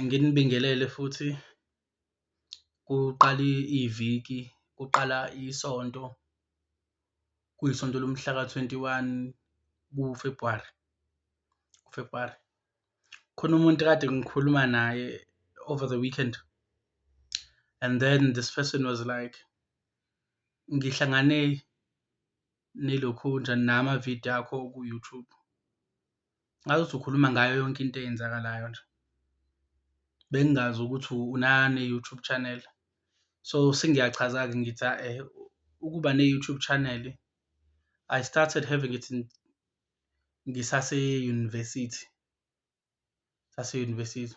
Nginibingelele futhi kuqala iviki, kuqala isonto, kuyisonto lomhlaka twenty one kuFebhuwari, kuFebhuwari. Khona umuntu ekade ngikhuluma naye over the weekend and then this person was like, ngihlangane nilokhunja namavidiyo akho ku-YouTube. Ngathi uthi ukhuluma ngayo yonke into eyenzakalayo nje. Bengingazi ukuthi unane-YouTube channel, so sengiyachaza-ke ngithi ukuba ne-YouTube channel, I started having it ngisase-university, sase-university.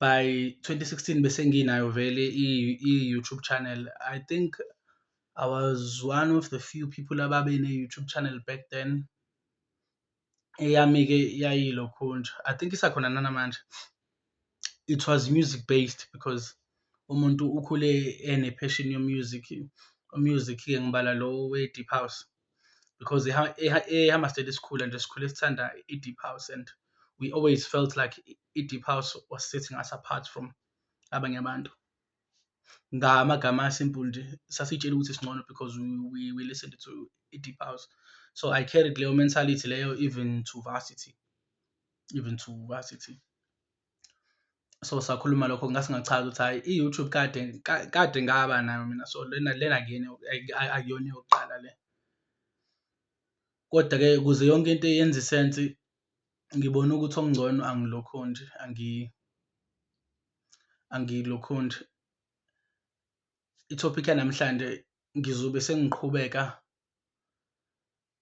by 2016 bese nginayo vele i-youtube channel i think i was one of the few people ababe ne-youtube channel back then eyami-ke yayilokhunja i think isakhona nanamanje it was music based because umuntu ukhule ene-passion yomusic umusic-ke ngibala lo we-deep house because ehamba state esikhula nje sikhule sithanda i-deep house and we always felt like i-deep house was setting us apart from abanye abantu ngamagama asimple nje sasitshela ukuthi singcono because we, we, we listened to i-deep house so i carried leyo mentality leyo even to varsity even to varsity so sakhuluma lokho ngase ngachaza ukuthi hhayi i-youtube kade kade ngaba nayo mina so lena lena akuyena akuyona eyokuqala le kodwa-ke ukuze yonke into yenze isensi ngibone ukuthi okungcono angilokhu nje angilokhu nje ithophikhi yanamhlanje ngizobe sengiqhubeka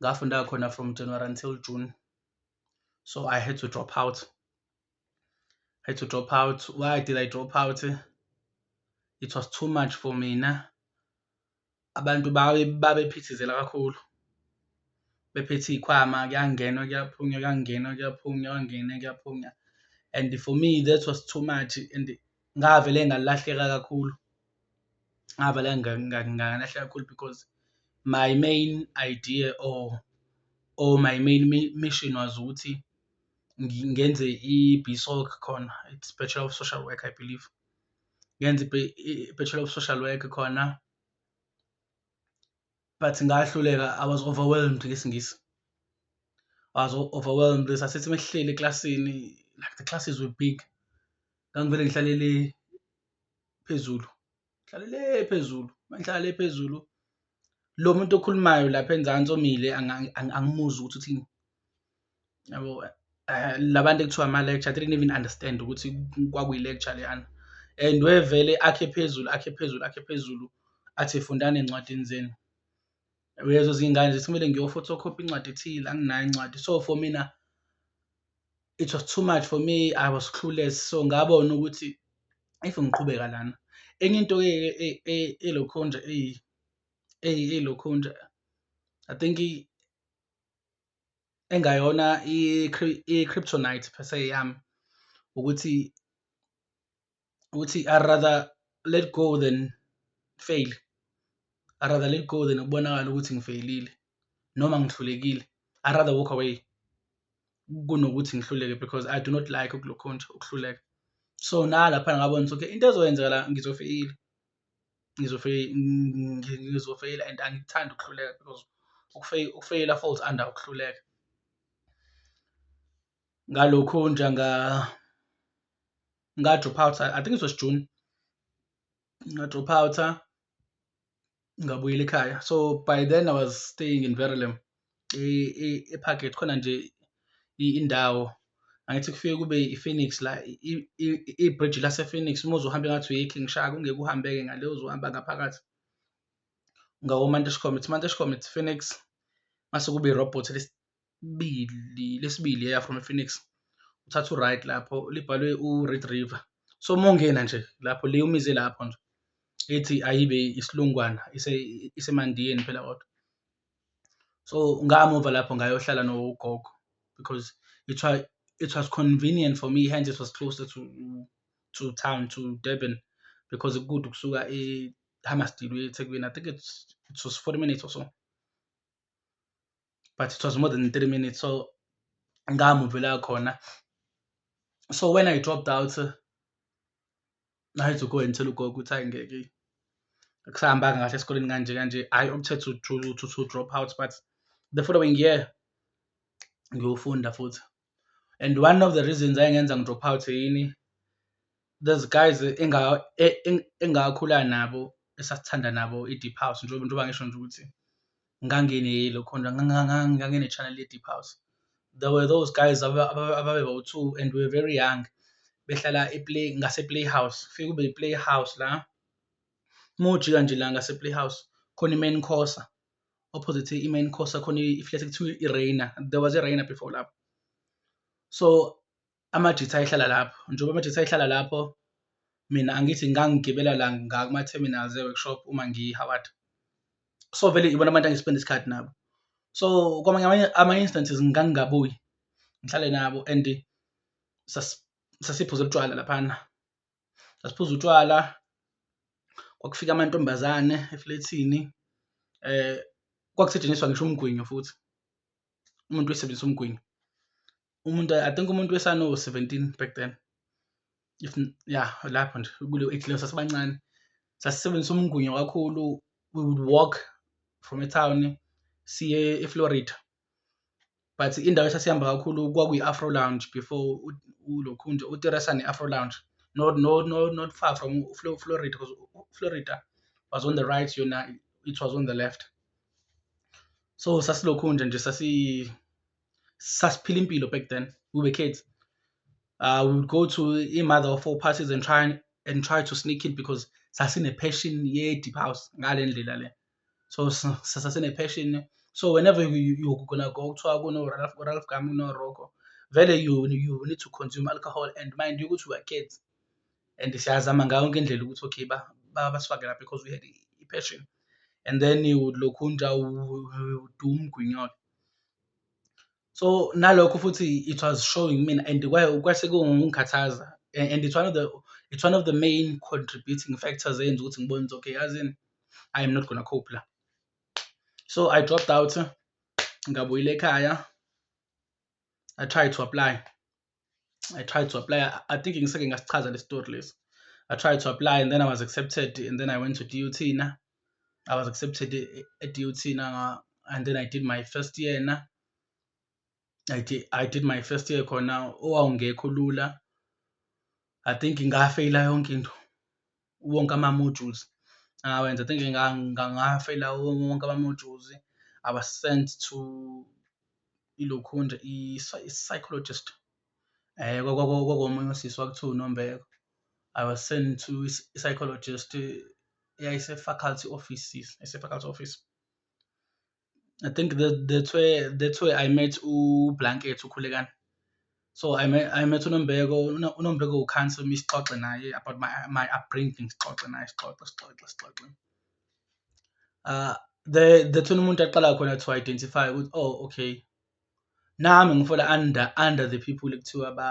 ngafunda khona from January until June so I had to drop out I had to drop out why did I drop out it was too much for mina abantu babe babephithizela kakhulu bephethe iy'khwama kuyangenwa kuyaphunywa kuyangenwa kuyaphunywa kuyangena kuyaphunywa and for me that was too much and ngavele ngalahleka kakhulu ngavele ngalahleka kakhulu because my main idea or or my main mission was ukuthi ngenze i-BSOC khona it's Bachelor of Social Work I believe ngenze i-Bachelor of Social Work khona but ngahluleka I was overwhelmed ngesingisi I was overwhelmed sasithi mehleli eklasini like the classes were big ngangivele ngihlalele phezulu ngihlalele phezulu mangihlale phezulu lo muntu okhulumayo lapha enzansi omile angimuzwa ukuthi uthini yabo eh, labantu ekuthiwa ama lecture i didn't even understand ukuthi kwakuyi lecture leyana and wevele akhe phezulu akhe phezulu akhe phezulu athi fundani encwadini zenu uyezo zingane zithi kumele ngiyophotocopy incwadi ethile anginayo incwadi so for mina it was too much for me i was clueless so ngabona ukuthi if ngiqhubeka lana enye into ke elokho nje elokho nje i think engayona i-kryptonite per se yami ukuthi ukuthi i rather let go than fail i rather let go than ukubonakala ukuthi ngifeyilile noma ngihlulekile i rather walk away kunokuthi ngihluleke because i do not like ukulokhonja ukuhluleka so nalapha ngabona ukuthi okay into ezoyenzeka la ngizofeyila ngizofeyila and angikuthandi ukuhluleka because ukufeyila falls under ukuhluleka ngalokho nje nga Nga drop out. I think it was June. Nga drop out. Ngabuyela ekhaya. So by then I was staying in Verulam. eParkgate khona nje indawo angithi kufike kube i-Phoenix la i-bridge lase-Phoenix uma uzohambe ngathi uyikhi ngishaya kungeke uhambeke ngale uzohamba ngaphakathi ngawo-Mantishcom it's Mantishcom it's Phoenix mase kube i-robot lesibili lesibili eya from Phoenix uthatha uright lapho libhalwe uRed River so mongena nje lapho le umize lapho nje ethi ayibe isilungwana isemandiyeni phela kodwa so ngamuva lapho ngayohlala nogogo because it was it was convenient for me hence it was closer to to town to Durban because kude ukusuka eHammarsdale uye eThekwini i think it's it was 40 minutes or so but it was more than three minutes so ngamuvela khona so when i dropped out i had to go and tell ugogo ukuthi hayi ngeke kusahambanga kahle esikoleni kanje kanje hhayi okuthe to, to, to, to drop out but the following year ngiyofunda futhi and one of the reasons engenza ngi-drop out yini, those guys engakhula nabo esasithanda nabo i-deep house njengoba ngisho nje ukuthi ngangineyelo khona ngangine-channel ye-deep house. There were those guys ababebawu-two and we were very young behlala ngase-playhouse, kufike kube yi-playhouse la, uma ujika nje la ngase-playhouse khona i-main course. opposite i-main course akhona i-flat kuthiwa i-reina there was i-reina before lapho so amajitha ayihlala lapho njengoba amajitha ayihlala lapho mina angithi ngangigibela la ngakuma-terminals e-workshop uma ngiyihaward so vele ibona abantu angispenda isikhathi nabo so kwamanye ama-instances ngangingabuyi ngihlale nabo and sasiphuza utshwala laphana sasiphuza utshwala kwakufika amantombazane eflethini eh kwakusetshenziswa ngisho umgwinyo futhi umuntu wesebenzisa umgwinyo umuntu i think umuntu wesano 17 back then if ya lapho nje kule age leyo sasibancane sasisebenzisa umgwinyo kakhulu we would walk from a town siye eFlorida but indawo esasihamba kakhulu kwakuyi-afro lounge before ulokhunje uteresa ne-afro lounge not, not, not, not far from florida because florida was on the right yona it was on the left so sasilokhunje nje sasi sasiphila impilo back then we were kids uh, we would go to i-mother of four parties and try and try to sneak it because sasine-passion ye-deep house ngale ndlela le so sasasine passion so whenever you, you, you're gonna go kuthiwa kuno Ralph Ralph Gam kuno Rocco vele you you need to consume alcohol and mind you ukuthi we are kids and siyazama ngayo yonke indlela ukuthi okay ba basifake lapha because we had i-passion and then you would lokhu nja udu umgwinyolo so nalokho futhi it was showing mina and kwase kungikhathaza and it's one of the it's one of the main contributing factors eyenza ukuthi ngibone ukuthi okay yazini i am not gonna cope la so i dropped out ngabuyela ekhaya i tried to apply I tried to apply. I think in second ngasichaza le story list. I tried to apply and then I was accepted and then I went to DUT na. I was accepted at DUT na and then I did my first year na. I did, I did my first year khona owawungekho lula. I think ngafeyila yonke into. wonke ama-modules awenza. I think ngafeyila wonke ama-modules, I was sent to ilokhunja nje i-psychologist um kwakomunye usisi kwakuthiwa uNombeko, I was sent to i-psychologist eyayise-faculty offices, eyayise-faculty office. I think that that's where that's where I met uBlanket uKhulekani. So I met I met uNombeko, uNombeko will cancel me sixoxe naye about my my upbringing sixoxe naye sixoxe sixoxe sixoxe. Uh the that's when umuntu aqala khona to identify ukuthi oh okay nami ngifola under under the people ekuthiwa ba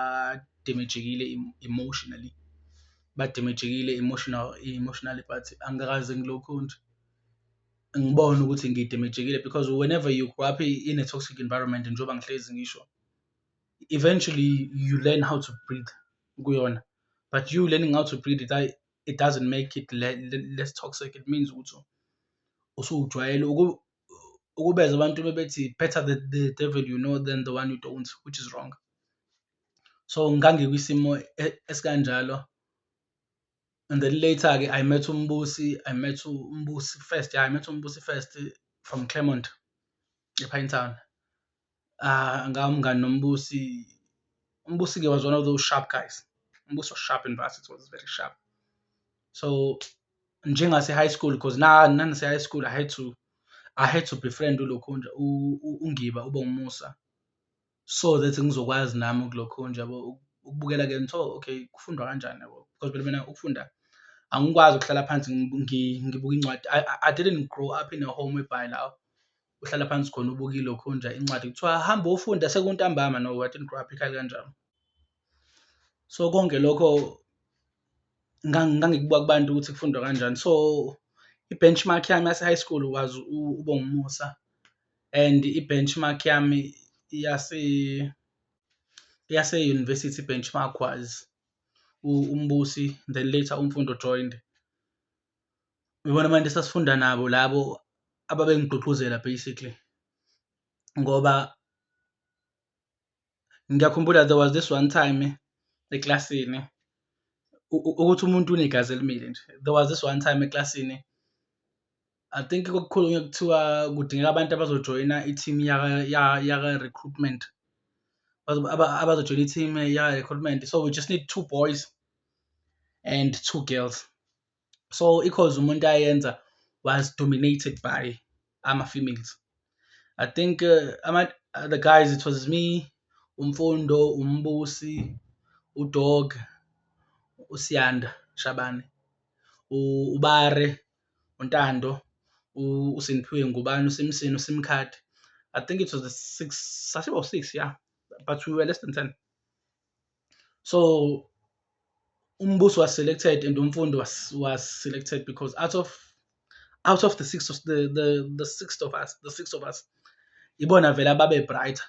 damagekile emotionally ba damagekile emotional emotionally but angikaze ngilokhu nje ngibona ukuthi ngidamagekile because whenever you grow up in a toxic environment njengoba ngihlezi ngisho eventually you learn how to breathe kuyona but you learning how to breathe it, it doesn't make it less toxic it means ukuthi usujwayele ukubeza abantu bebethi better the, the devil you know than the one you don't which is wrong so ngangikwisimo e-, esikanjalo and then later ke i met umbusi i met umbusi first yeah, i met umbusi first from Claremont ePine Town Ah, ngawo umngani noMbusi. UMbusi-ke was one of those sharp guys. UMbusi was sharp in varsity, was very sharp. So njengase-high school because na nanase-high school I had to I had to befriend uLokhunja u- u- uNgiba uBongumusa so that ngizokwazi nami ukuLokhunja yabo uku- ukubukela ke ngitho okay kufundwa kanjani yabo because phela mina ukufunda angikwazi ukuhlala phansi ngi- ngi- ngibuka incwadi I, I- I didn't grow up in a home whereby la uhlala phansi khona ubuka ilokhu nje incwadi kuthiwa hamba ufunda sekuntambama no what in crap ikhali kanjalo so konke lokho ngangikubuka kubantu ukuthi kufundwa kanjani so i-benchmark yami yase-high school was ubongumusa and i-benchmark yami yase yase-university benchmark was umbusi then later umfundo joined uyibona abantu esasifunda nabo labo ababengigqugquzela basically ngoba ngiyakhumbula there was this one time eklasini ukuthi umuntu unegazi elimile nje there was this one time eklasini I think kokukhulunywa kuthiwa kudingeka abantu abazojoyina i-team yaka-recruitment abazojoyina i-team yaka-recruitment so we just need two boys and two girls so ikhoze umuntu ayenza was dominated by ama-females i think uh, ama, uh, the guys it was me umfundo umbusi udog usiyanda shabane ubare untando usiniphiwe ngubani usimsini usimkhadi i think it was the six sasibo-six yeah but we were less than ten so umbuso was selected and umfundi was was selected because out of out of the six of the the, the sixth of us the six of us ibona vele ababe brighter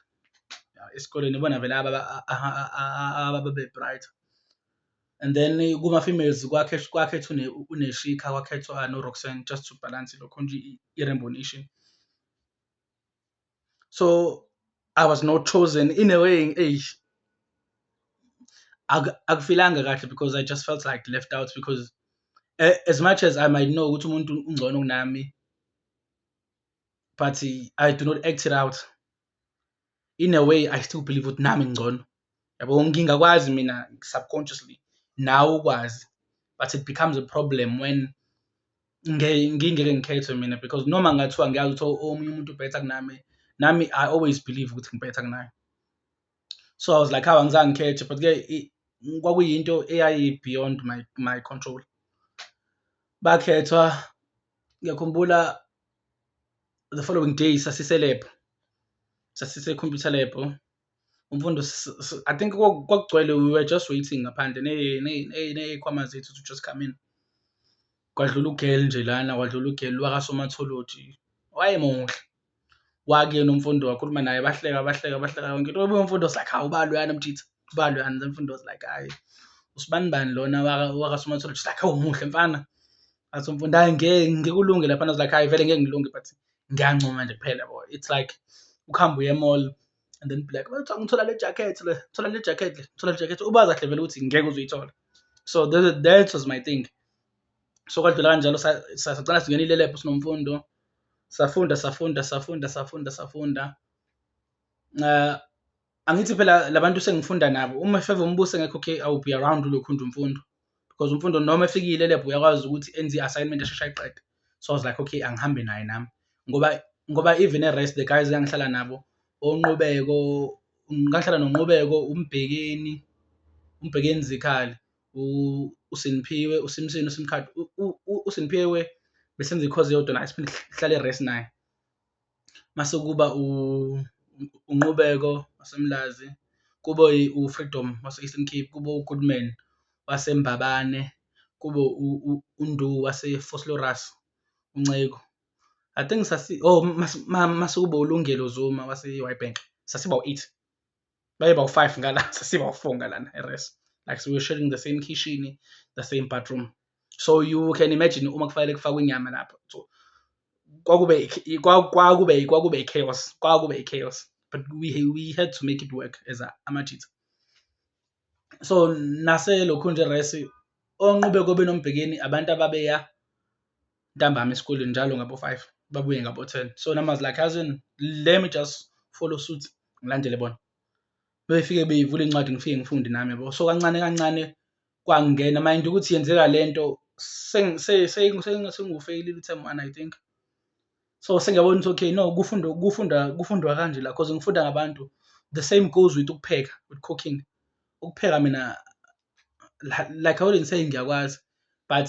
esikoleni ibona vele ababe brighter and then kuma females kwakhe kwakhethwa uneshika kwakhethwa no Roxanne just to balance lokho nje i-rainbow nation so i was not chosen in a way eish akufilanga kahle because i just felt like left out because eh, as much as i might know ukuthi umuntu ungcono kunami but i do not act it out in a way i still believe ukuthi nami ngcono yabo ngingakwazi mina subconsciously nawe ukwazi but it becomes a problem when ngingeke ngikhethwe mina because noma ngathiwa ngiyazi ukuthi omunye umuntu ubhetha kunami nami i always believe ukuthi ngibhetha kunaye so i was like hawu angizange ngikhethe but-ke kwakuyinto eyayi-beyond my, my control bakhethwa ngiyakhumbula the following day sasiselebhu sasise-computer lab umfundo i think kwakugcwele we were just waiting ngaphandle ney'khwama zethu to just come in kwadlula ugel nje lana kwadlula ugel wakasomatholoji wayemuhle wakuyena umfundo wakhuluma naye bahleka bahleka bahleka yonke into obuye umfundo was like hawu uba loyana mjitha uba loyana then umfundo was like hayi usibani bani lona wakasomatholoji like hawu muhle mfana athi umfundo hayi ngeke ngikulunge lapha was like hayi vele ngeke ngilunge but ngiyancoma nje kuphela bo it's like ukuhamba uye mall and then black bathi ngithola le jacket le thola le jacket le thola le jacket ubaza kahle vele ukuthi ngeke uzoyithola so that, that was my thing so kwadlula kanjalo sacela singenile lab sinomfundo safunda safunda safunda safunda safunda uh, angithi phela labantu sengifunda nabo uma efeva umbuse ngekho okay awu be around ulokhunja umfundo because umfundo noma efikile lab uyakwazi ukuthi enze i-assignment eshesha iqede so i was like okay angihambe naye nami ngoba ngoba even e-rest the guys engihlala nabo onqubeko ngangihlala nonqubeko umbhekeni umbhekeni zikhali usiniphiwe usimsini usimkhathi usiniphiwe besenza ikhozi yodwa naye siphinde sihlale e-rest naye mase kuba uNqubeko waseMlazi, kube uFreedom wase-Eastern Cape, kube uGoodman waseMbabane, kube uNdu waseVosloorus, uNceku. I think sasi oh mase kube uLungelo Zuma wase-Witbank, sasiba wu-eight. baye bawu-five ngala sesibawu-four ngalana eres like so we're sharing the same kitchen the same bathroom so you can imagine uma kufanele kufakwe inyama lapho so kwakube kwakube kwakube chaos kwakube chaos but we, we had to make it work as amajitha so naselokhu nje resi onqube kobe nombhekeni abantu ababeya ntambama esikoleni njalo ngabo 5 babuye ngabo 10 so numbers like cousin let me just follow suit ngilandele bona befike beyivula incwadi ngifike ngifunde nami yabo so kancane kancane kwangena mind ukuthi yenzeka lento sengufeyilile uThem one i think so sengiyabona ukuthi okay no kufunda kufunda kufundwa kanje la cause ngifunda ngabantu the same goes with ukupheka with cooking ukupheka mina like i wouldn't say ngiyakwazi but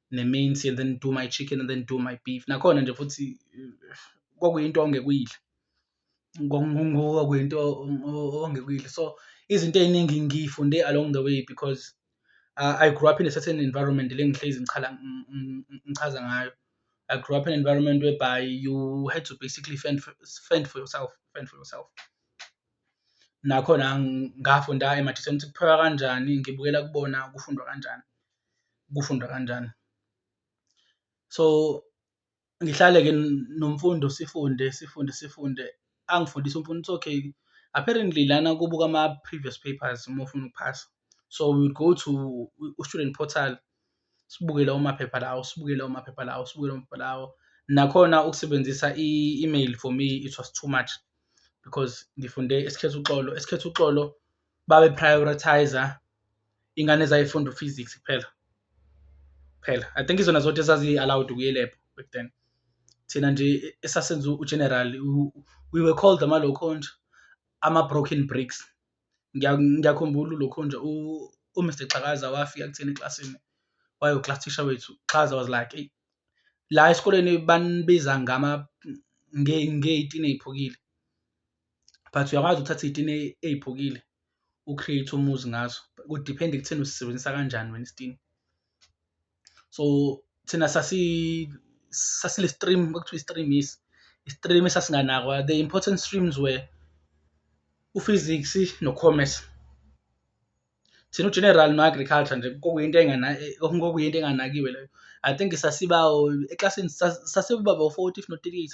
neminsi and then do my chicken and then do my beef nakhona nje futhi kwakuyinto ongekuyidla kwakuyinto ongekuyidla so izinto ey'ningi ngiyifunde along the way because uh, I grew up in a certain environment le ngihlezi ngichala ngichaza ngayo I grew up in an environment whereby you had to basically fend for, fend for yourself fend for yourself nakhona ngafunda emathitheni ukuthi kuphekwa kanjani ngibukela kubona kufundwa kanjani kufundwa kanjani. So ngihlale-ke nomfundo sifunde sifunde sifunde angifundise umfundi it's okay apparently lana kubuka ama-previous papers uma ufuna ukuphasa so we go to u-student portal sibuke lawo maphepha lawo sibuke lawo maphepha lawo sibuke lawo maphepha lawo nakhona ukusebenzisa i-email for me it was too much because ngifunde esikhetha uxolo esikhetha uxolo babe prioritizer ingane zayifunda uphysics kuphela kuphela i think izona zodwa ezazi-allowed ukuyelebha back then thina nje esasenza ugeneral we were called amalokho nje ama-broken bricks ngiyakhumbula ulokho nje umr xakaza wafika kuthina eklasini wayo-class teacher wethu xaza was like eyi la esikoleni banibiza ngama ngey'tini ey'phukile but uyakwazi ukuthatha iy'tini ey'phukile u-create umuzi ngazo kudiphenda ekutheni usisebenzisa kanjani wena isitini so thina sasi sasile stream kwakuthiwa i-stream is i-stream esasinganakwa the important streams were u-physics no-commerce thina u-general no-agriculture nje kokuyinto kokuyinto enganakiwe leyo i think sasibawo eklasini sasibaba u-forty if not thirty-eight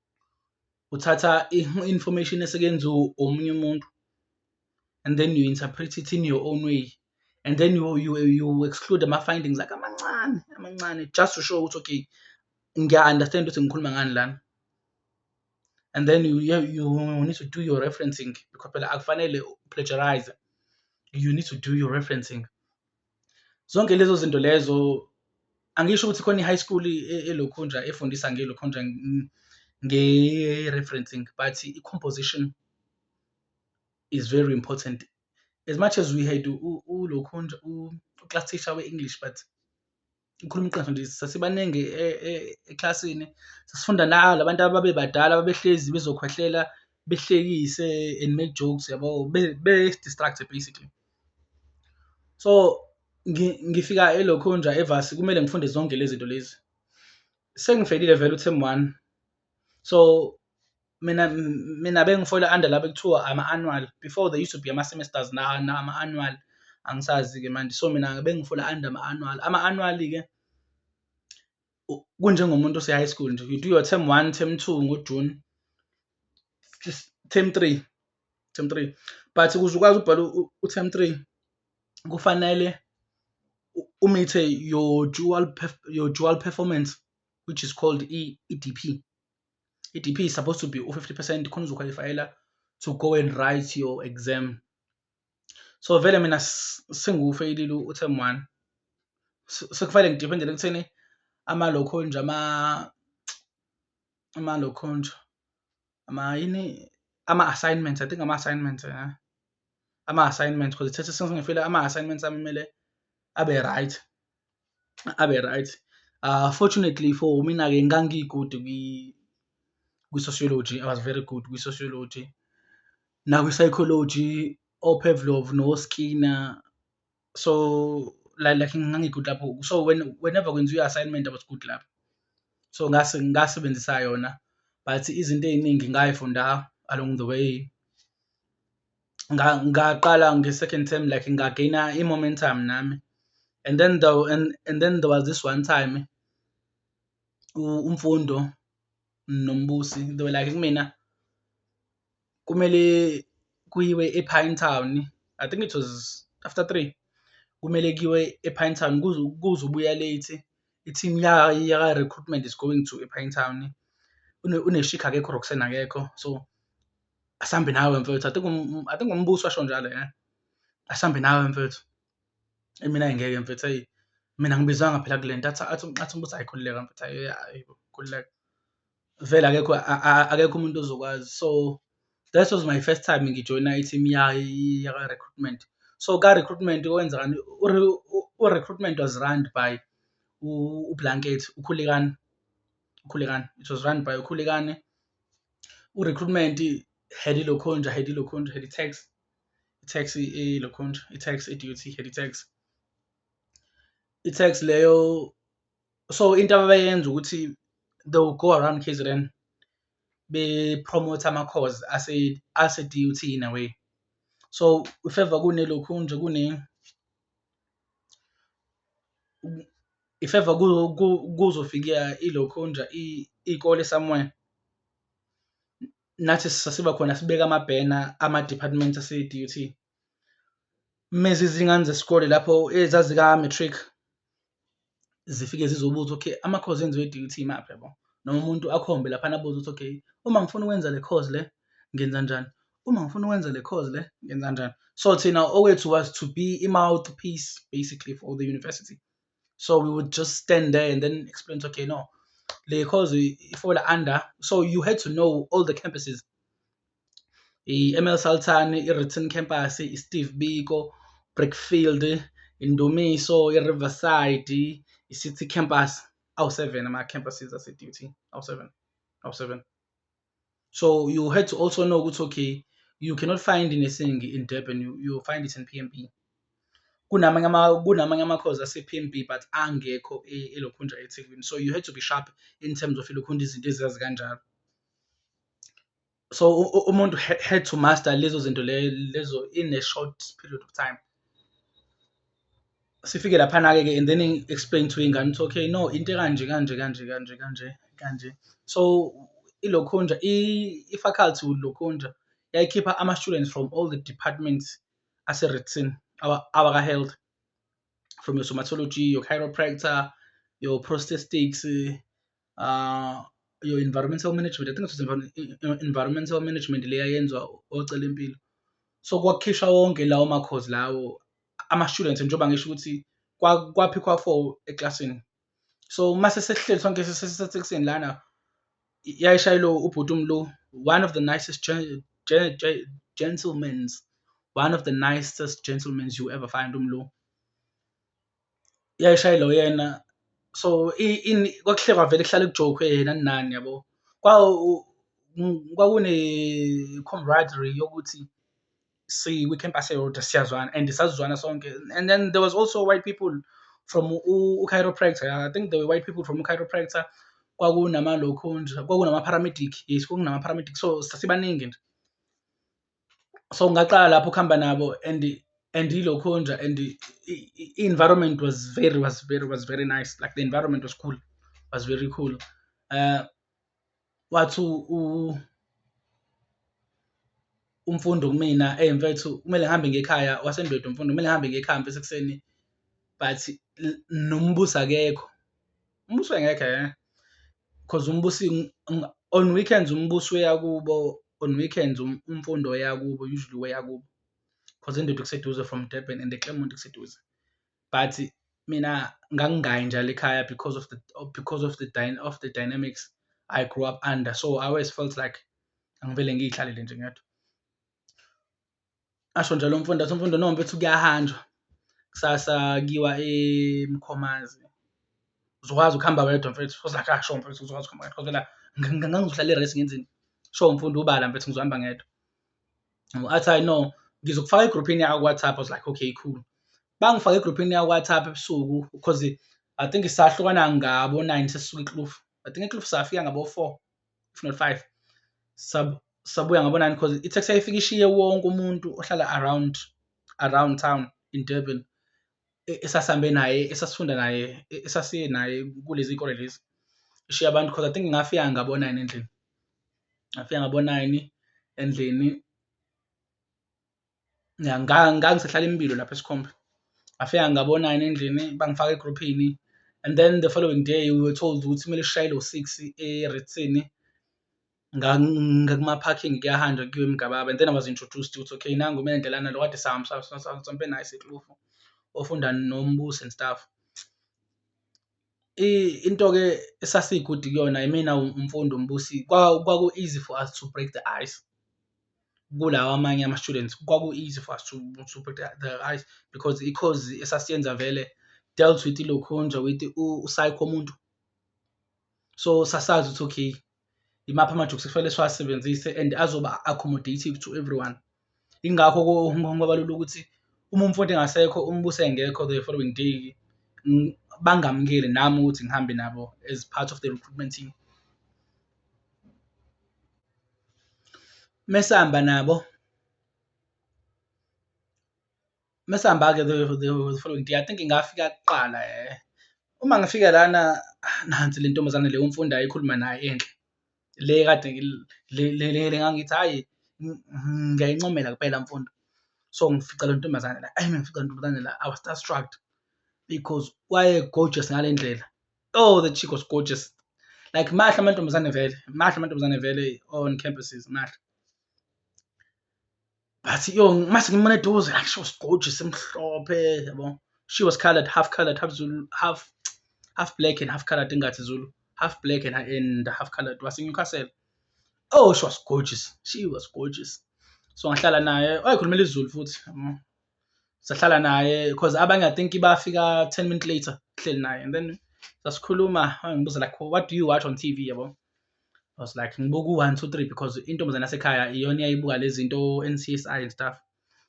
uthatha i-information eseke yenziwe omunye umuntu and then you interpret it in your own way and then you, you, you exclude ama-findings akhe amancane amancane just to show ukuthi okay ngiya-understand ukuthi ngikhuluma ngani lana and then you, you, you need to do your referencing because phela akufanele plagiarize you need to do your referencing zonke lezo zinto lezo angisho ukuthi khona i-high school e, e, elokhunja efundisa ngelokhunja nge-referencing but i-composition is very important as much as we had ulokhunja u-class teacher we-english but ngikhuluma iqiniso nje sasibaningi e- e- eklasini sasifunda nabo labantu ababebadala babehlezi bezokhwehlela behlekise and make jokes yabo be- be-distract basically so ngi- ngifika elokhunja evasi kumele ngifunde zonke lezi zinto lezi sengifelile vele uthemu one so mina mina bengifola under laba kuthiwa ama annual before they used to be ama semesters na na ama annual angisazi ke manje so mina bengifola under ama annual ama annual ke kunjengomuntu ose high school nje you do your term 1 term 2 ngo June term 3 term 3 but ukuze ukwazi ubhala u term 3 kufanele umithe your dual your dual performance which is called EDP i-DP is supposed to be u-50 percent khona uzokhwalifayela to go and write your exam so vele mina singufeyilile u-term one sekufanele ngidiphendele ekutheni ama-loconge ama-loconge ama yini ama-assignments i think ama-assignments ya eh? ama-assignments because ithethe sengifile ama-assignments amele abe right abe right uh, fortunately for mina-ke ngangiyi-good kwi-sociology i was very good kwi-sociology nakwi-psychology opevlov noskinner so like, like ngangi-good lapho so when, whenever kwenziwa i-assignment i was good lapho so ngase ngasebenzisa yona but izinto ey'ningi ngayifunda along the way ngaqala nge-second term like ngageyina i-momentum nami and then the and, and then there was this one time umfundo nombusi they were like kumina kumele kuyiwe e-pine town i think it was after three kumele kuyiwe e-pine town kuze ubuya late i-team yaka-recruitment is going to e-pine town uneshiga akekho roxen akekho so asambe nawe mfethu i think um, i think umbuso asho njalo eh asambe nawe mfethu mina ngeke mfethu hey mina ngibizwanga phela kulento athi athi athi umbuso ayikhululeka mfethu ayi khululeka vele akekho akekho umuntu ozokwazi so that was my first time ngijoyina i-team yaka recruitment so ka recruitment kwenzekani u recruitment was run by ublanket ukhulekani ukhulekani it was run by ukhulekani urecruitment head ilokhonja head ilokhonja head tax tax ilokhonja i-tax i-duty head tax i-tax leyo so into abayenza ukuthi they will go around KZN bepromote ama-cause ase-DUT in a way so if ever kunelokhunja kune If ever kuzofika ilokhunja iy'kole somewhere, nathi sasiba khona sibeke amabhena ama-department ase-duty. Uma ziza iy'ngane zesikole lapho ezazi ka-matric, zifike zizobuza okay ama course enziwe DUT imaphi yabo noma umuntu akhombe lapha nabuza ukuthi okay uma ngifuna ukwenza le course le ngenza njani uma ngifuna ukwenza le course le ngenza njani so thina owethu was to be i mouthpiece basically for the university so we would just stand there and then explain to okay no le course ifola under so you had to know all the campuses i-ML Salthane, i-Written Campus, i-Steve Biko, Brickfield, Indumiso, i-Riverside, i-City Campus, awu-seven ama-campuses ase-D_U_T, awu-seven, awu-seven. So you had to also know ukuthi okay you cannot find nursing in Durban, you, you find it in P_M_B. Kunamanye ama, kunamanye ama-course ase-P_M_B but angekho e-, elokhunja eThekwini, so you had to be sharp in terms of elokhunja izinto ezazi kanjalo. so umuntu had to master lezo zinto lezo in a short period of time sifike laphana-ke ke and then explain to ingane ukuthi okay no into ekanje kanje kanje kanje kanje kanje so ilokhunja i-faculty lokhunja yayikhipha ama-students from all the departments ase-retsin awaka-health from your somatology your chiropractor your prostatics uh, your environmental management i think it was env environmental management leya yenziwa ocela impilo so kwakhishwa wonke lawo makhozi lawo ama-students njengoba ngisho ukuthi kwaphikhwa four eklasini so uma sesesihleli sonke sesesekuseni lana yayishayelo ubhuti umlu one of the nicest gentlemen's one of the nicest gentlemen's you ever find umlu Yayishayela uyena so kwakuhle kwavele kuhlale kujokhwe yena nani yabo, kwakunekhomradirri yokuthi sikwikhenkasi eyodwa siyazwana and sasizwana sonke and then there was also white people from u-chiropractor yah I think there were white people from u-chiropractor, kwakunamalokhunja, kwakunamapharamediki, yes kwakunamapharamediki so sasibaningi nje. so ngaqala lapho ukuhamba nabo and and ilokhonja and i-environment was very was very was very nice like the environment was cool was very cool uh wathi umfundo kumina eyi mfethu kumele ngihambe ngekhaya wasendwedwe umfundo kumele ngihambe ngekhaya mfethu ekuseni but nombusi akekho. umbuso engekhe eh? because umbusi on weekends umbusi uyakubo on weekends um, umfundo uyakubo usually uyakubo because indoda kuseduze from Durban and eClermont kuseduze but mina ngangingayi njalo ekhaya because of the because of the dyna, of the dynamics I grew up under so I always felt like angivele ngiyihlalele nje ngedwa asho nje lo mfundi athi umfundi no mfethu kuyahanjwa kusasa kiwa emkhomazi uzokwazi ukuhamba wedwa mfethu ozakhe asho mfethu uzokwazi ukuhamba wedwa kodwa ngangizohlala i-race ngenzeni sho mfundi ubala mfethu ngizohamba ngedwa athi hayi no ngizokufaka egruphini yakho ku-whatsapp i was like okay cool bangifake egruphini yakho ku-whatsapp ebusuku because i think sahlukana ngabo nine sesuka eklufu i think eklufu safika ngabo-four if not five sab sabuya ngabonani because i-taxi yayifika ishiye wonke umuntu ohlala around around town in durban e, esasihambe naye esasifunda naye e, esasiye naye kulezi kole lezi ishiye abantu because i think ngafika ngabonani endlini ngafika ngabonani endlini ngangisahlala impilo lapha esikhombe ngafika ngabona yena endlini bangifaka egruphini and then the following day we were told ukuthi kumele sishayele ngo-six erithini ngakumaphakingi kuyahanjwa kuyiwe emgababa and then I was introduced ukuthi okay nangu uMendle lana lo kade sihamba sihambe naye eseklofo ofunda noMbusi and stuff. Into-ke esasi-good kuyona imina uMfundi uMbusi kwaku-easy for us to break the ice kulawa amanye ama-students, kwaku-easy for us to to break the ice because i-course esasiyenza vele dealt with ilokhunja with u-psycho umuntu. So sasazi ukuthi okay. imaphi amajokes ekufanele siwasebenzise and azoba accommodative to everyone ingakho ko-hong kong kwabalula ukuthi uma umfundi engasekho umbuse engekho the following day bangamukeli nami ukuthi ngihambe nabo as part of the recruitment team mesihamba nabo mesihamba-ke the, the, the following day i think ngafika kuqala eh uma ngifika lana ah, nansi le ntombazane le umfundi ayikhuluma naye enhle le kade le ngangithi hhayi ngiyayincomela kuphela mfundo so ngifica le ntombazane la ayi ngifica le ntombazane la i was star struck because waye gorgeous ngale ndlela oh the chick was gorgeous like mahle amantombazane vele mahle amantombazane vele on campuses mahle but yo mase ngimane eduze like she was gorgeous emhlophe yabo she was colored half colored half zulu half half black and half colored ingathi zulu half black and, and half colored wase newcastle oh she was gorgeous she was gorgeous so ngahlala naye wayekhulumela izulu futhi sahlala naye because abanye i think bafika 10 minutes later kuhleli naye and then sasikhuluma ngibuza like what do you watch on tv yabo I was like ngibuka u-one two three because intombazane yasekhaya iyona iyayibuka le zinto o-N_C_S_I and stuff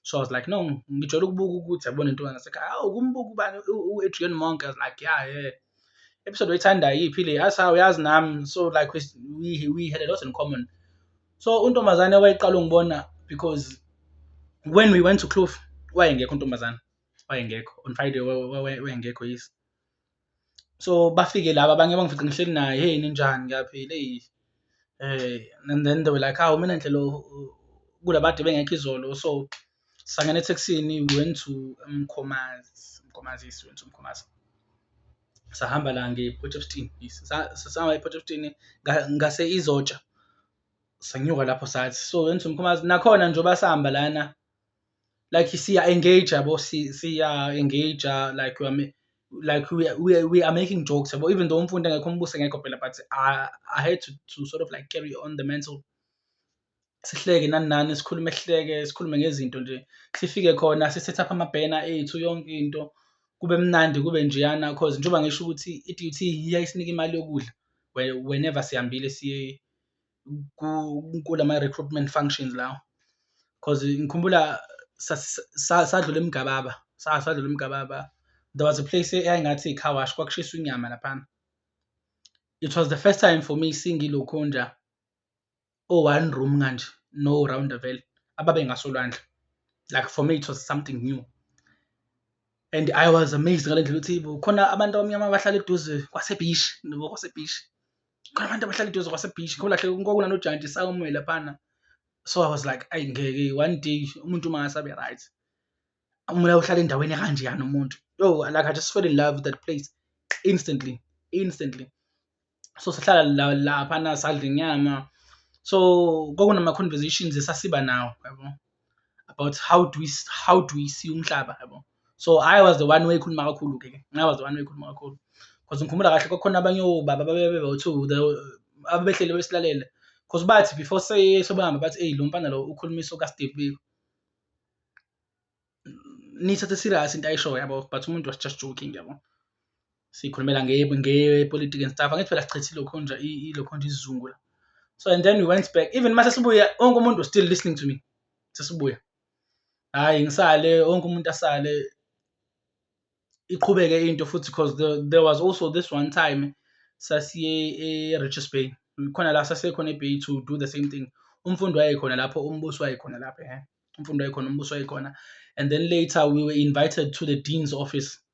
so I was like no ngijwayele ukubuka ukuthi yabona intombazane yasekhaya awu kumbuka ubani u-Adrian Monk I was like yeah yeah episode oyithanda yiphi le athi hawu yazi nami so like we, we, we had a lot in common so untombazane wayeqala ungibona because when we went to Kloof wayengekho untombazane wayengekho on Friday wayengekho yisi so bafike laba abanye bangifice ngihleli naye hey ninjani ngiyaphila eyi eh and then they were like hawu mina nhlelo kulabade bengekho izolo so sangena ethekisini went to mkhomazi mkhomazi yes went to mkhomazi sahamba la nge-port of stein yes sahamba e-port of stein ngase izotsha sanyuka lapho sathi so went to mkhomazi nakhona njengoba sihamba lana like siya engage yabo siya engage like we are like we are, we are, we are making jokes yabo even though umfundi engekho umbuso engekho phela but I, I had to, to sort of like carry on the mental sihleke nani nani sikhulume sihleke sikhulume ngezinto nje sifike khona sisethe up amabhena ethu yonke into kube mnandi kube njeyana cause njengoba ngisho ukuthi i-DUT iyayisinika imali yokudla whenever sihambile siye kulama recruitment functions lawo because ngikhumbula sadlula emgababa sadlula emgababa there was a place eyayingathi i-car wash kwakushiswa inyama laphana it was the first time for me singilokhu nja o one room kanje no round vele ababe ngasolwandle like for me it was something new and i was amazed ngale ndlela ukuthi khona abantu abamnyama abahlala eduze kwasebishi nobo kwasebishi khona abantu abahlala eduze kwasebeach ngolahle kwakunanojantshi sawume laphana so i was like ayi ngeke one day umuntu uma ngasabe right umula uhlala endaweni ekanjeyani umuntu yo like i just fell in love with that place instantly instantly so sihlala la laphana sadla inyama so kwakunama-conversations esasiba nawo yabo about how do we how do we see umhlaba yabo so i was the one wayekhuluma kakhulu ke i was the one wayekhuluma kakhulu because ngikhumbula kahle kwakhona abanye obaba babebe bawu-two abebehlele besilalele because bathi before sebehamba bathi eyi lo mfana lo ukhuluma iso kasteve biko nithathe serious into ayishoyo yabo but umuntu was just joking yabo sikhulumela ngepolitiki and stuff angithi phela sichithile lokhonja ilokhonja isizungu la so and then we went back even mase sibuya wonke umuntu was still listening to me sesibuya hayi ngisale wonke umuntu asale iqhubeke into futhi because there, there was also this one time sasiye e-richards bay khona la sasiye khona ebay to do the same thing umfundi wayekhona lapho umbuso wayekhona lapho ehe umfundi wayekhona umbuso wayekhona and then later we were invited to the dean's office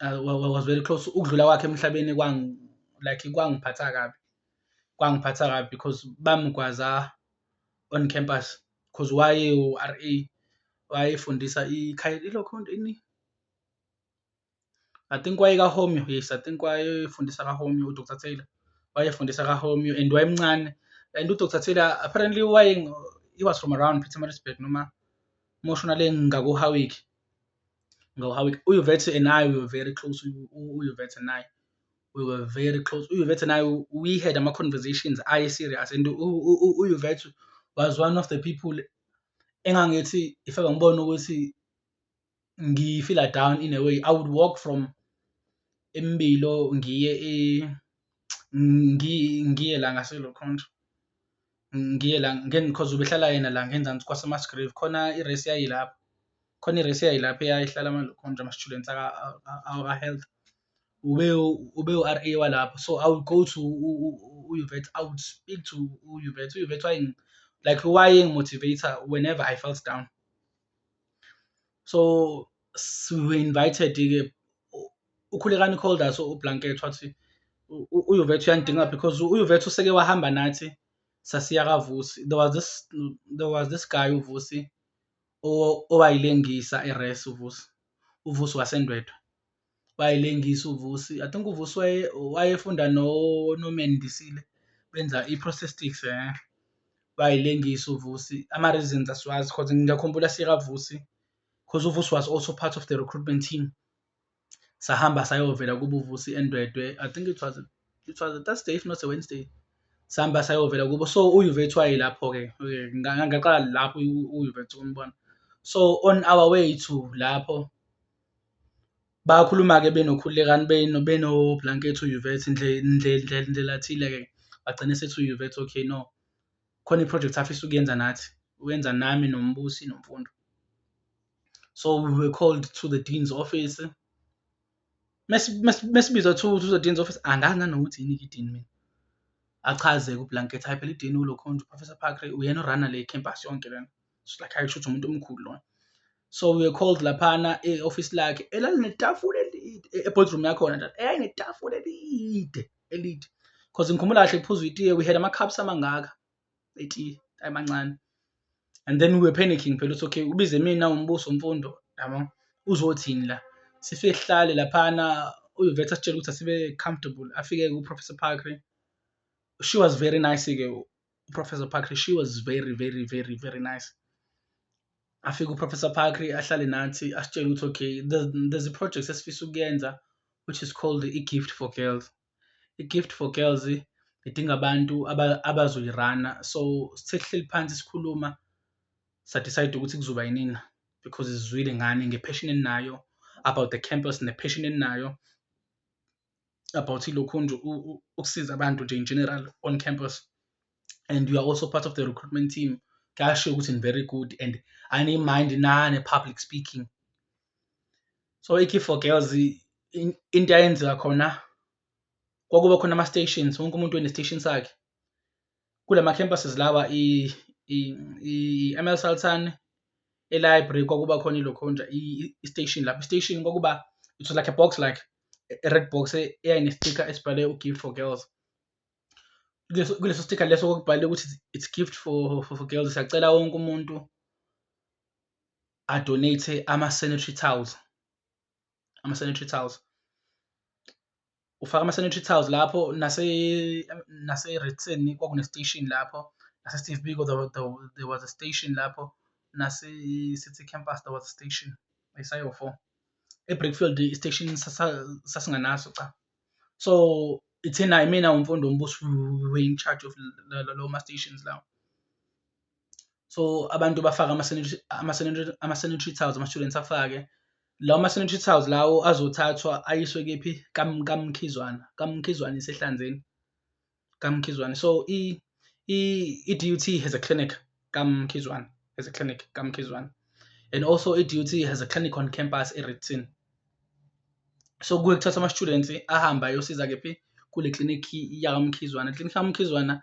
uh, was very close ukudlula kwakhe emhlabeni kwang like kwangiphatha kabi kwangiphatha kabi because bamgwaza on campus because waye u-RA wayefundisa ikhaya ilokho ini I think waye ka Homeo yes I think wayefundisa ka Homeo u Dr Taylor wayefundisa ka Homeo and wayemncane and u Dr Taylor apparently waye he was from around Pietermaritzburg noma moshona le ngaku Howick Ngo how it uYvette and I we were very close. UYvette and I we were very close. UYvette and I we had ama conversations aye serious and uYvette was one of the people engangithi if ever ngibona ukuthi ngifila down in a way I would walk from Embilo ngiye e ngiye la ngaselo khonto ngiye la because ubehlala yena la ngenzansi kwasemasgrave khona irace yayilapho khona irace yayilapho eyayihlala amalokhonto ama-students aka-health ube ube u-r a walapho so i would go to uyuvet i would speak to uyuvet uyuvet waye like wayengi-motivator whenever i felt down so we invited ke ukhulekani called us ublanket wathi uyuvethu uyangidinga because uyuvethu useke wahamba nathi sasiya kavusi there was this there was this guy uvusi owayilengisa eres uvusi uvusi wasendwedwe bayilengisa uVusi I think uVusi waye wayefunda no noMendisile benza i-prosthetics eh bayilengisa uVusi ama reasons asiwazi because ngiyakhumbula sika Vusi because uVusi was also part of the recruitment team sahamba sayovela kubo uVusi eNdwedwe I think it was it was a Thursday if not a Wednesday sihamba sayovela kubo so uYuvethu wayelapho ke ngaqala lapho uYuvethu umbona so on our way to lapho Bayakhuluma-ke benokhulekani benoblankethi uYouvet ndlela thile-ke bagcine sethi uYouvet okay no, khona iphrojekthi afisa ukuyenza nathi, uyenza nami noMbusi noMfundo. So we were called to the dean's office, mesibizwa to to the dean's office angazi nanokuthi yini-ke i-dean mina, achaze-ke ublankethi hhayi phela i-dean ulo khunja uProfessor Parker uyena o-run-a le campus yonke lena. it's like ayi kushuthi umuntu omkhulu lona so we were called laphana e-office lakhe elalinetafula elide e-, e-boardroom yakhona njalo eyayinetafula elide elide because ngikhumbula kahle kuphuzwa itiye we had ama-cups amangaka etiye ayemancane and then we were panicking phela ukuthi okay ubize mina umbuso mfundo yabo uzothini la sifike sihlale laphana uyovethe asitshela ukuthi asibe comfortable afike ku-professor parkre she was very nice-ke uprofessor pakri she was very very very very nice afike uprofessor pakri ahlale nathi asitshele ukuthi okay there's a project esifisa ukuyenza which is called i-gift for girls i-gift for girls idinga abantu abazoyirana so sithe kuhleli phansi sikhuluma sadecide ukuthi kuzoba yinina because izwile ngani nge-passion eninayo about the campus ne-passion eninayo about ilokhu nje ukusiza abantu nje in general on campus and you are also part of the recruitment team kuyashiwo ukuthi ni very good and aniyimind nane public speaking so ikey for girls into yayenzeka khona kwakuba khona ama-stations wonke umuntu wene-station sakhe Kula ma-campuses lawa i-ML Sultan, e-library kwakuba khona ilokhonja i-station lapho i-station kwakuba it was like a box like a red box eyayine-sticker esibhale u-gift for girls kuleso sticker leso kokubhalile ukuthi it's gift for, for, for girls siyacela wonke umuntu adonate ama-sanitary towels ama-sanitary towels ufaka ama-sanitary towels lapho nase-redson nase kwakunestation lapho nase-steve biko there, there, there was a station lapho nase-city campus there was a station isayo four ebrickfield istation sasinganaso cha so ithina imina umfundo ombuso we in charge of lawo ma-stations lawo so abantu bafake ama-sanitary towels ama-students afake lawo ama-sanitary towels lawo azothathwa ayiswe kephi kamkhizwana kamkhizwana isehlanzeni kamkhizwana so i-dut has a clinic kamkhizwana has a clinic kamkhizwana and also i-dut has a clinic on campus eritin so kuke kuthatha ama-students ahambe ayosiza kephi kule klinikhi yakamkhizwana iklinikhi yakamkhizwana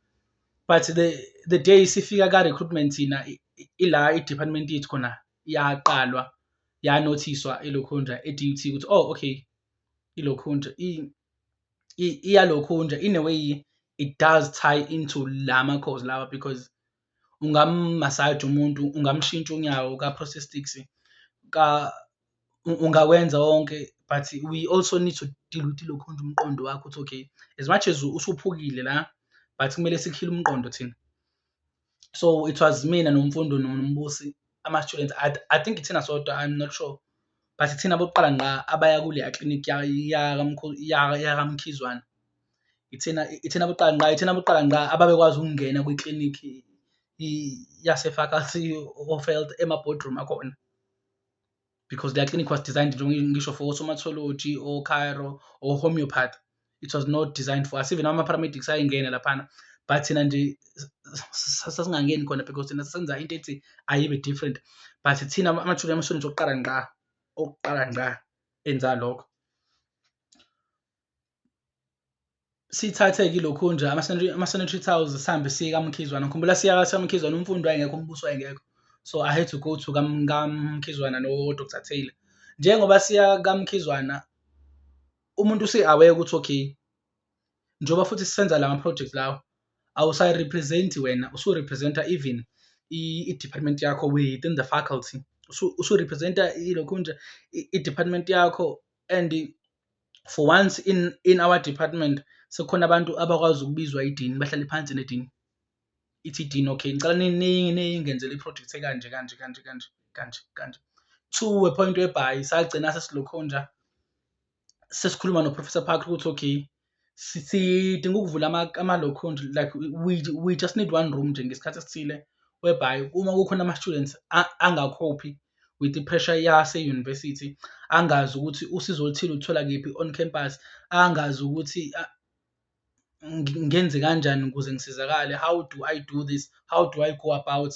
but the the day sifika ka recruitment thina ila i-department yethu khona yaqalwa yanothiswa ilokhunja e-DUT ukuthi oh okay ilokhunja iyalokhunja in a way it does tie into la makhozi lawa because ungammasaja umuntu ungamshintsha unyawo ka-prostatics ka ungakwenza wonke but we also need to deal with lokhu nje umqondo wakho ukuthi okay as much as usuphukile la but kumele sikhile umqondo thina so it was mina nomfundo nombusi ama-students I, i think ithina sodwa i'm not sure but ithina bokuqala ngqa abaya kuleya clinic yakamkhizwana ithina ithina bokuqala ngqa ithina bokuqala ngqa ababekwazi ukungena kwiklinikhi yasefaculty of health ema-boardroom akhona because their clinic was designed ngisho for osomatology ocairo or homeopath it was not designed for us even ama-paramedics ayengene laphana but thina nje sasingangeni khona because thina senza into ethi ayibe different but thina amathuluzi amashonisa okuqala ngqa okuqala ngqa enza lokho sithathe kilokhu nje ama-sanitary towels sihambe siye kamkhizwana ngikhumbula siya kamkhizwana umfundi wayengekho umbuso wayengekho so i had to go to kamkhizwana nodr taylor njengoba siya kamkhizwana umuntu usi-aware ukuthi okay njengoba futhi sisenza la ma-project lawo awusayirepresenti wena usurepresenta even i-department yakho within the faculty usurepresenta ilokhu nje i-department yakho and for once in in our department sekukhona abantu abakwazi ukubizwa idini bahlale phansi nedini ithi idini okay ngicela ningenzele iproject ekanje kanje kanje kanje kanje kanje to a point whereby sagcina sesilokhonja sesikhuluma noprofessor park ukuthi okay sidinga ukuvula ama-low count like we, we just need one room nje ngesikhathi esithile whereby uma kukhona ama-students angakhophi with i-pressure yase-university angazi ukuthi usizo oluthile uthola kephi on campus angazi ukuthi ngenze kanjani ukuze ngisizakale how do i do this how do i go about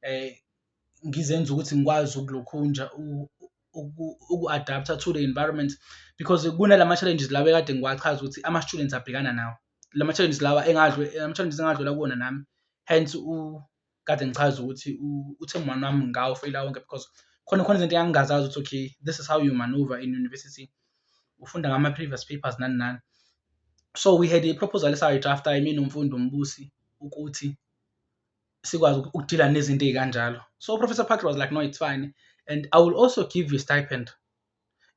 eh ngizenza ukuthi ngikwazi ukulokhunja uku-adapter to the environment because kunala ma-challenges lawa ekade ngiwachaza ukuthi ama-students abhekana nawo la ma-challenges lawa ama-challenges engadlula kuwona nami hence kade ngichaza ukuthi uthe mwana wami ngawo feyila wonke because khona khona izinto engangingazazi ukuthi okay this is how you maneuver in university ufunda ngama-previous papers nani nani so we had a proposal esayidrafta yimi nomfundi umbusi ukuthi sikwazi ukudila nezinto ey'kanjalo so uprofessor patrick was like no it's fine and i will also give you stipend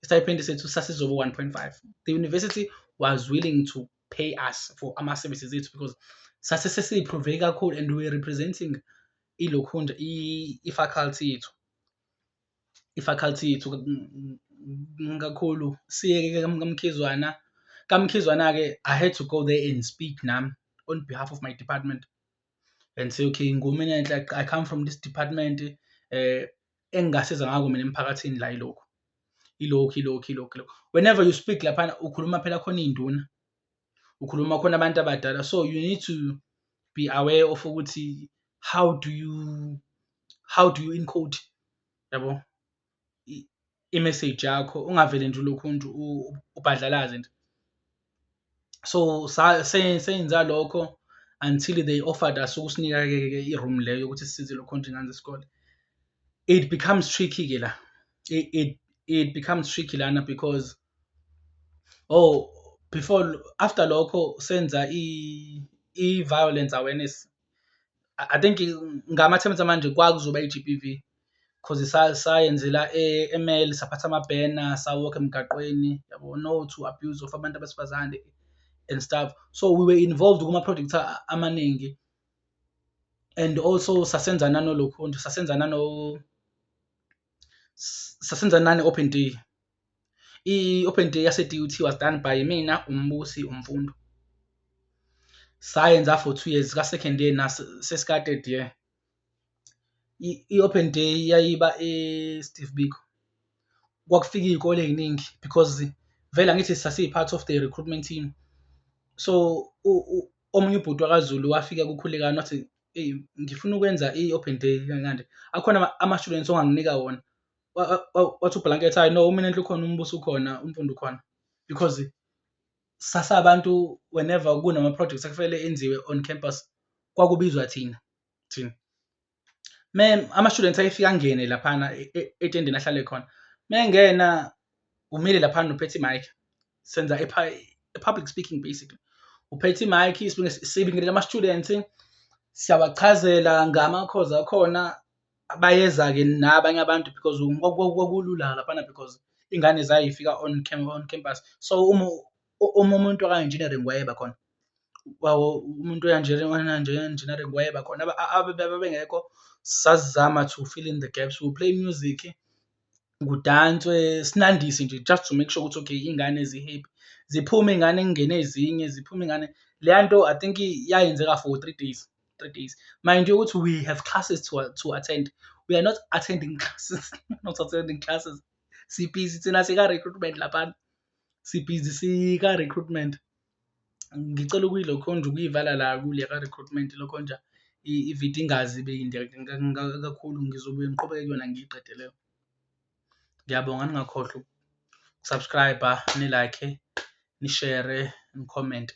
stipend sethu sasizobe 1.5 the university was willing to pay us for ama-services ethu because sase sesiyiprove kakhulu and we representing ilokhunja i-faculty yethu i-faculty yethu kakhulu siyeke kamkhizwana kamkhizwana-ke i had to go there and speak nami on behalf of my department and say okay ngumina enhle i come from this department eh engingasiza ngako mina emphakathini la ilokhu ilokhu ilokhu ilokhu ilokhu whenever you speak laphana ukhuluma phela khona iy'nduna ukhuluma khona abantu abadala so you need to be aware of ukuthi how do you how do you encode yabo i-message yakho ungavele nje ulokhu nje ubhadlalaze nje so senza lokho until they offered us ukusinika-ke i-room leyo yokuthi sisize lokho nje ngane zesikole it becomes tricky-ke la it, it, it becomes tricky lana because oh before after lokho senza i-violence awareness I I think ngama-terms amanje kwakuzoba i-G_B_V cause sa- sayenzela e- e-mall saphatha ama-banner sa-walk-a emgaqweni yabo, no to abuse of abantu besifazane and stuff. So we were involved kuma-projects a- amaningi and also sasenza nanolokhunja, sasenza nano, s- sasenza nane-open day. I-open day yase-DUT was done by mina, uMbusi, uMfundo. Sayenza for two years, ka-second year nasesika-third year. I-open day yayiba e-Steve Biko. Kwakufika iy'kole ey'ningi because vele angithi sasiyi-part of the recruitment team. So omunye ubhuti wakaZulu wafika kuKhulekani wathi, eyi ngifuna ukwenza i-open day kanje. Akhona ama-students onganginika wona. wa- wa- wa- wathi ublanket hayi no umina enhle ukhona umbuso ukhona umfundi ukhona because sasa abantu whenever kunama projects ekufanele enziwe on campus kwakubizwa thina thina me ama students ayefika ngene laphana e- e- etendeni ahlale khona mengena umile laphana uphethe mic senza i public speaking basically uphethe mic sibingelele ama students siyabachazela ngama cause akhona abayeza-ke nabanye abantu because kwakulula laphana because ingane zayifika on, on campus so uma uma umuntu waka-engineering wayeba khona umuntu oyanjenengineering wayeba khona abebengekho sasizama to fill in the gaps we play music kudanswe sinandise nje just to make sure ukuthi okay iy'ngane zi-happy. Ziphume iy'ngane kungene ezinye, ziphume iy'ngane. Leya nto I think yayenzeka for three days, three days. Mind you ukuthi we have classes to to attend, we are not attending classes, not attending classes. Si-busy thina sika-recruitment laphana, si-busy sika-recruitment. ngicela ukuyilokhonja ukuyivala la kule ka-recruitment ilokhonja i-video ingaze ibe yinde kakhulu, ngizobuye ngiqhubeke kuyona ngiyiqede leyo. Ngiyabonga ningakhohlwa uku-subscribe-a, ni-like-e, nishere, nikhomente.